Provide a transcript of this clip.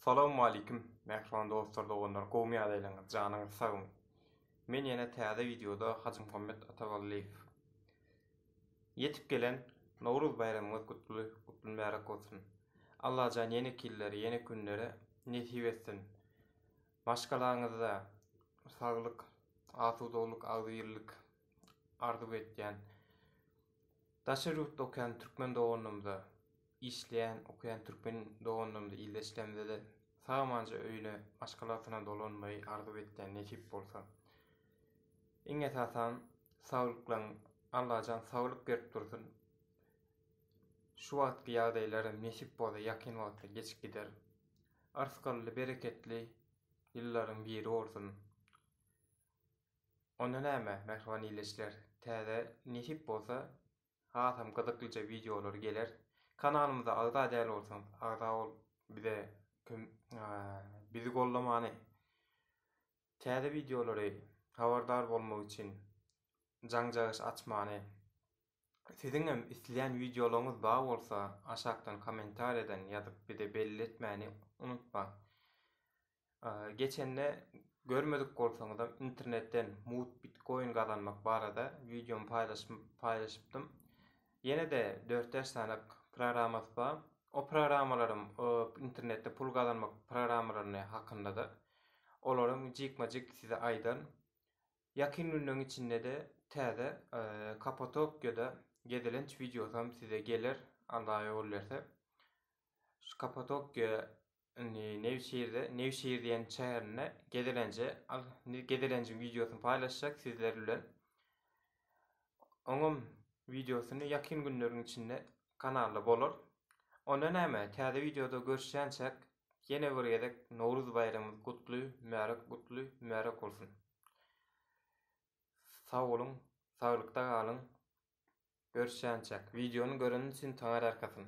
Salawmaleýkim mähriban dostlar doganlar gowmy ýagdaýlaryňyz janyňyz sagmy men ýene täze wideoda Hajymuhammet Ataballyýew Ýetip gelen Nowruz baýramyňyz gutly gutly mübärek bolsun Allajan ýene killeri ýene künleri nesip etsin maşgalaňyzda saglyk asudaglyk agzybirlik arzuw etýän. Daşary ýurtda okaýan türkmen doganlarymyza, işleýän, okaýan türkmen doganlarymyza ilde işlemizede sag-amanca öýüne, maşgalasyna dolanmagy arzuw etýän nesip bolsa. Iň esasan saglyklaň Allajan saglyk berip dursun. Şu wagtky ýagdaýlaram nesip bolsa ýakyn wagtda geçip gider. Yrsgally, bereketli ýyllaryň biri bolsun. Onda näme mähriban illeçiler täze nesip bolsa hasam gyzyklyja wideolar geler. Kanalymyza agza däl bolsaňyz agza bolup bize bizi gollamany täze wideolary habardar bolmak üçin jaňjagyş açmany siziň hem isleýän wideolaryňyz bar bolsa aşakdan kommentariýadan ýazyp bize belli etmäni unutmaň. Geçende görmedik bolsaňyzam internetden mugt bitkoin gazanmak barada wideomy paýlaşypdym. Ýene-de dört bäş sany programmasy bar. O programmalaram internetde pul gazanmak programmalaryny hakyndada olaram jikme-jik size aýdan. Ýakyn günleň içinde-de täze Kapatokýada gezelenç wideosam size geler Alla ýol berse. Şu Kapatokýa Indi Newşehirde, Newşehir diýen şäherinde gezelenje, al, indi gezelenjiň wideosyny paýlaşjak sizler bilen. Oňam wideosyny ýakyn günleriň içinde kanalda bolar. Onda näme, täze wideoda görüşýänçäk, ýene bir gezek Nowruz baýramymyz gutly, mübärek, gutly, mübärek bolsun! Sag boluň, saglykda galyň! Görüşýänçäk! Wideony göreniň üçin Taňar Arkasyn!